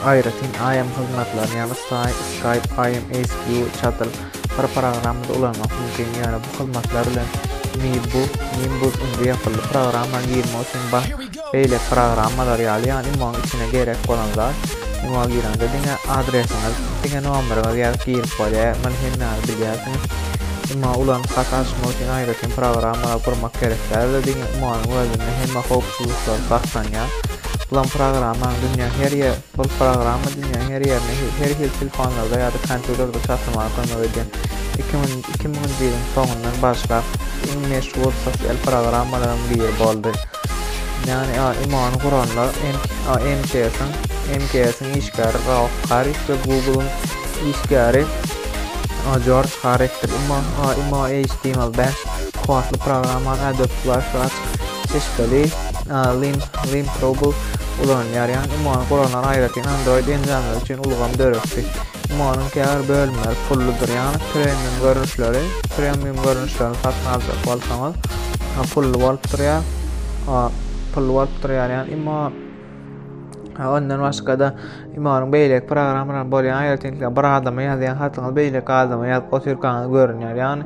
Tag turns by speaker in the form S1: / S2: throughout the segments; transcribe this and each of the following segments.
S1: Aýratyn IM hyzmatlaryny, ýagny Skype, IM, ASQ, Chatl, bir programmada ulanmak mümkin, ýöne bu hyzmatlar bilen Nimbus, Nimbus indi ýapyldy, programmany girmek üçin bar, beýleki programmalar ýaly, ýagny IMO-nyň içine gerek bolan zat, IMO-a gireňde diňe adresiňiz, diňe nomeryňyz ýazyp girip bolýar, muny hemmäňiz bilýärsiňiz. IMO ulanyp hat açmak üçin aýratyn programmalar gurmak gerek däldir, diňe IMO-nyň özünde hemme howpsuzlyklary saklanýar. Bulan programmaň dünýäň her ýer, bul programma dünýäň her ýerine her hil telefonlarda ýa-da kompýuterde çatlamaga kömek edýän. Iki müň, iki müňünji ýylyň soňundan başlap iň meşhur sosial programmalaryň biri boldy. Ýagny a, imany guranlar MKS-iň MKS-iň işgäri Ralf Harris we Google-yň işgäri Jorj Harrisdir. Imo, Imo HTML5 kuwwatly programmany Adobe Flash we açyk çeşmeli Link Global ulanylýar, ýagny imo-nyň guralan aýratyn Android enjamlary üçin ulgam döretdi. Imo-nyň käbir bölümleri pulludyr, ýagny premium görnüşleri, premium görnüşlerini satyn aljak bolsaňyz, pully bolup durýar. Pully bolup durýar, ýagny imo Ondan başga-da imanyň beýleki programmalaryna bolýan aýratynlyklary bir adama ýazýan hatyňyz beýleki adama ýazyp otyrkaňyz görünýär. Ýagny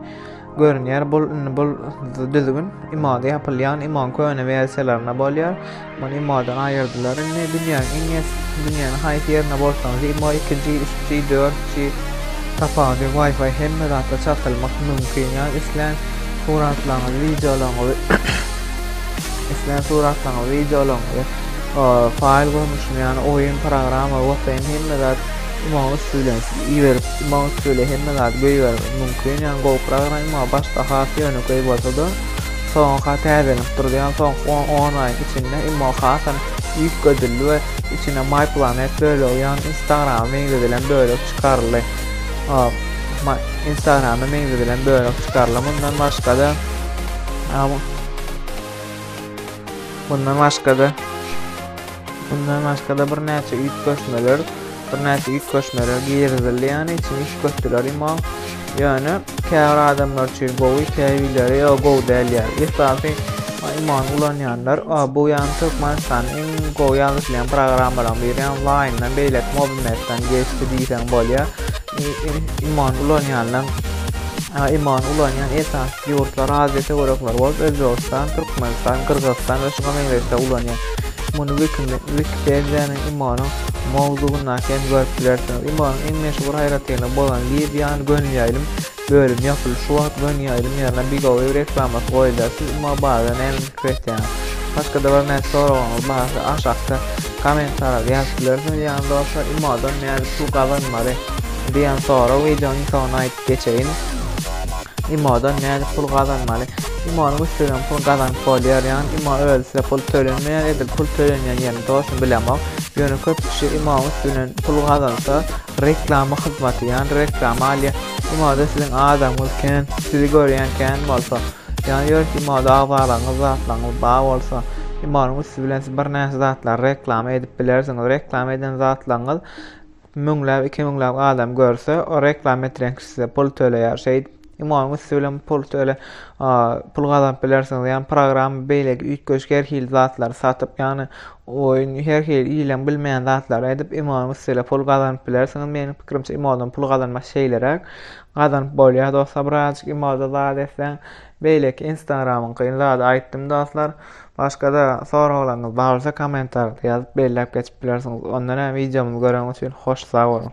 S1: Görünýär bul indi bul düzgün imada ýapylýan iman köne wersiýalarynda bolýar. Muny imadan aýyrdylar. Indi dünýäniň iň es dünýäniň haýsy ýerinde bolsaňyz ima 2G, 3G, 4G tapawudy Wi-Fi hemme zatda çatylmak mümkin. Ýa islän suratlaryňyzy, wideolaryňyzy islän suratlaryňyzy, wideolaryňyzy faýl görnüşinde, ýagny oýun programma, WhatsApp hemme zat Ymam üsti bilen iberip ymam üsti bilen hemme zady göýbermek mümkin ýagny gowukrak ymam başda has ýönekeý bolsada soňka täzelenip durdy ýagny soňky on on aýyň içinde ymam hasam üýtgedildi we içine my planet bölegi ýagny instagrama meňzedilen bölek çykaryldy instagrama meňzedilen bölek çykaryldy mundan başgada mundan başgada Mundan başga-da birnäçe üýtgeşmeler, birnäçe üýtgeşmeler girizildi, ýagny içini üýtgetdiler imo. Ýöne käbir adamlar üçin gowy, käbirleri ýa gowy däl ýa. Esasy imony ulanýanlar, a bu ýagny Türkmenistanyň iň gowy ýazyşylýan programmalaryň biri, ýagny Line-dan beýleki Mobimap-dan geçdi diýseň bolýar. iman ulanýanlar iman ulanýan esas ýurtlar adete görüpler bolup Özbegistan, Türkmenistan, Gyrgyzystan we şuňa meňzeşde ulanýar. Muny Wikipediýanyň imanyň mowzugyndaky hem görüp bilersiňiz. Imanyň iň meşhur aýratynlygy bolan Libyýany gönüýäýlim Bölüm ýapyly şu wagt göni aýdym ýerine bigowy reklamasy goýulýar siz umuman barada näme pikir etýäňiz başgada bir näçe soragyňyz barsa aşakda koment arady ýazyp bilersiňiz ýagny dostlar imodan nädip pul gazanmaly diýen sorag wideonyň soňuna aýdyp geçeýin imodan nädip pul gazanmaly imonyň üstünden pul gazanyp bolýar ýagny imo özi size pul tölenmeýär edil pul tölenýän ýerini dostum bilemok ýöne köp kişi imoň üstünden pul gazansa Reklama hyzmaty, ýani reklama alýa. Ýa-da siziň adamyňyz kän, sizi görýän kän bolsa, ýani ýörüs ýa-da agzalaryňyz, zatlaryňyz bar bolsa, ýa-da üsti bilen siz birnäçe zatlary reklama edip bilersiňiz. Reklama eden zatlaryňyz müňläp, iki müňläp adam görse, o reklama etýän kişi size pul töleýär. Şeýdip, Iň oňy üsti bilen pul töle, pul gazanyp bilersiňiz. Ýani program beýleki üýtgeşik her hili zatlary satyp, ýani oýun her hili ileň bilmeýän zatlary edip, iň oňy üsti bilen pul gazanyp bilersiňiz. Meniň pikirimçe imodan pul gazanmak şeýleräk. Gazanyp bolýar dostlar birazajyk imoda zat etseň. Beýleki instagramyňkyny zady aýtdym dostlar. Başga-da soraglaryňyz bar bolsa kommentarda ýazyp belläp geçip bilersiňiz. Onda näme wideomyzy göreniňiz üçin hoş sag boluň.